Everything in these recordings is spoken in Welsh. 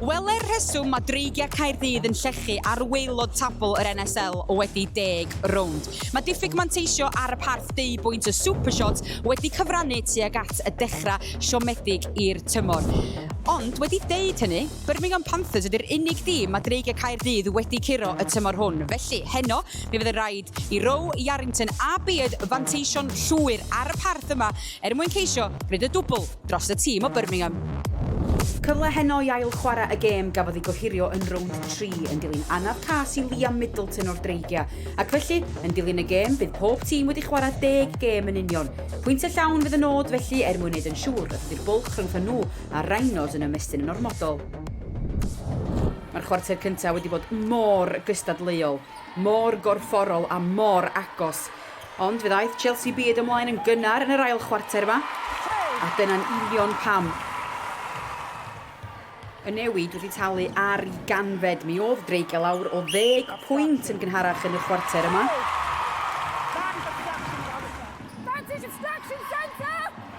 Wele'r rheswm mae Dreigiau Caerdydd yn llechu ar waelod tabl yr NSL wedi deg rownd. Mae diffyg manteisio ar y parth deu bwynt y Supershot wedi cyfrannu tuag at y dechrau siomedig i'r tymor. Ond wedi deud hynny, Birmingham Panthers ydy'r unig dîm mae Dreigiau Caerdydd wedi curo y tymor hwn. Felly, heno, mi fydd yn rhaid i Row, Yarrington a Beard fanteisio'n llwyr ar y parth yma er mwyn ceisio gwneud y dwbl dros y tîm o Birmingham. Cyfle heno i ail-chwarae y gêm gafodd ei gohirio yn rownd tri yn dilyn anaf cas i Liam Middleton o'r Dreigiau, ac felly, yn dilyn y gêm, bydd pob tîm wedi chwarae deg gêm yn union. Pwyntiau llawn fydd y nod felly er mwyn wneud yn siŵr nad ydy'r bwlch rhyngthon nhw a'r Rhinos yn ymestyn yn ormodol. Mae'r chwarter cyntaf wedi bod mor gystadleuol, mor gorfforol a mor agos. Ond fe ddaeth Chelsea byd ymlaen yn gynnar yn yr ail chwarter yma, a dyna'n union pam y newid wedi talu ar ei ganfed. Mi oedd dreigiau lawr o ddeg pwynt yn gynharach yn y chwarter yma.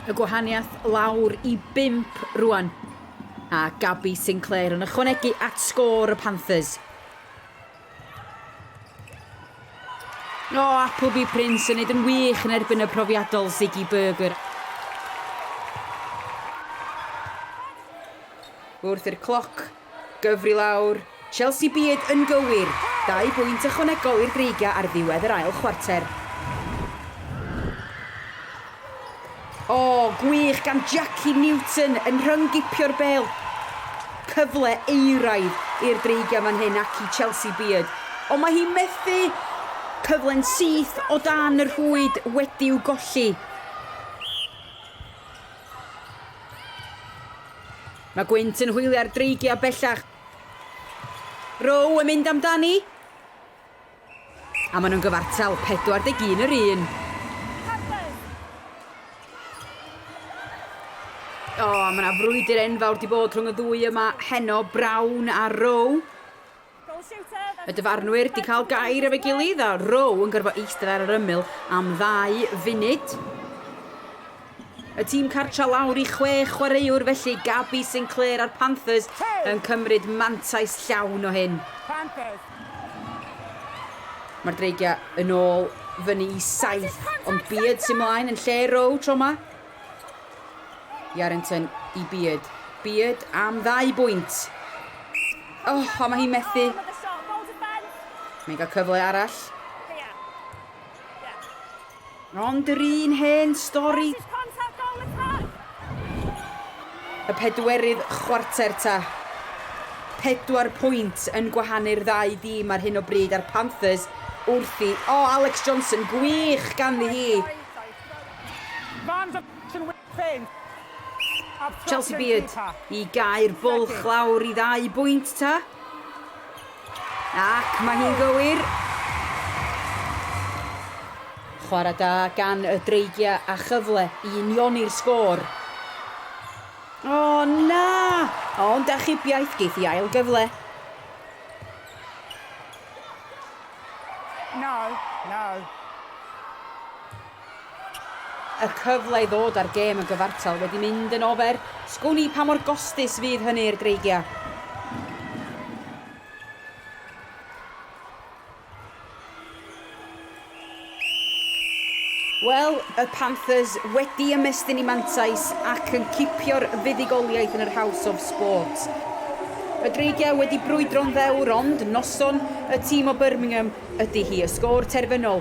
Y gwahaniaeth lawr i bump rwan, a Gabby Sinclair yn ychwanegu at sgôr y Panthers. O, Appleby Prince yn neud yn wych yn erbyn y profiadol Ziggy Burger. Wrth i'r cloc gyfri lawr, Chelsea Beard yn gywir, dau bwynt ychwanegol i'r Dreigiau ar ddiwedd yr ail chwarter. O, gwych gan Jackie Newton yn rhyng-gipio'r bêl. Cyfle euraidd i'r Dreigiau fan hyn ac i Chelsea Beard. Ond mae hi methu! Cyfle'n syth o dan y rhwyd wedi'w golli. Mae Gwynt yn hwylio'r Dreigiau bellach. Rowe yn mynd amdani. A maen nhw'n gyfartal, 41 yr un. O, oh, mae yna frwydr enfawr di bod rhwng y ddwy yma heno, Brown a Rowe. Y dyfarnwyr di cael gair efo'i gilydd a Rowe yn gorfod eistedd ar yr ymyl am ddau funud. Y tîm cartref lawr i chwe chwaraewr felly, Gabby Sinclair a'r Panthers yn cymryd mantais llawn o hyn. Mae'r Dreigiau yn ôl fyny i saith, ond Beard sy'n mlaen yn lle Rowe tro yma. Yarrington i Beard. Beard am ddau bwynt. Oh, a mae hi'n methu. Mae'n cael cyfle arall. Ond yr un hen stori. Y pedwerydd chwarter ta. Pedwar pwynt yn gwahanu'r ddau dîm ar hyn o bryd a'r Panthers wrth i... O, Alex Johnson, gwych ganddi hi! Chelsea Beard i gau'r bwlch lawr i ddau bwynt ta. Ac mae hi'n gywir! Chwarae da gan y Dreigiau a chyfle i unioni'r sgôr. O na! Ond achubiaeth geith i ail gyfle. No, no. Y cyfle i ddod â'r gêm yn gyfartal wedi mynd yn ofer, sgwn i pa mor gostus fydd hynny i'r Greigiau. Wel, y Panthers wedi ymestyn i mantais ac yn cipio'r fuddugoliaeth yn yr House of Sport. Y Greigiau wedi brwydro'n ddewr ond noson y tîm o Birmingham ydy hi. Y sgôr terfynol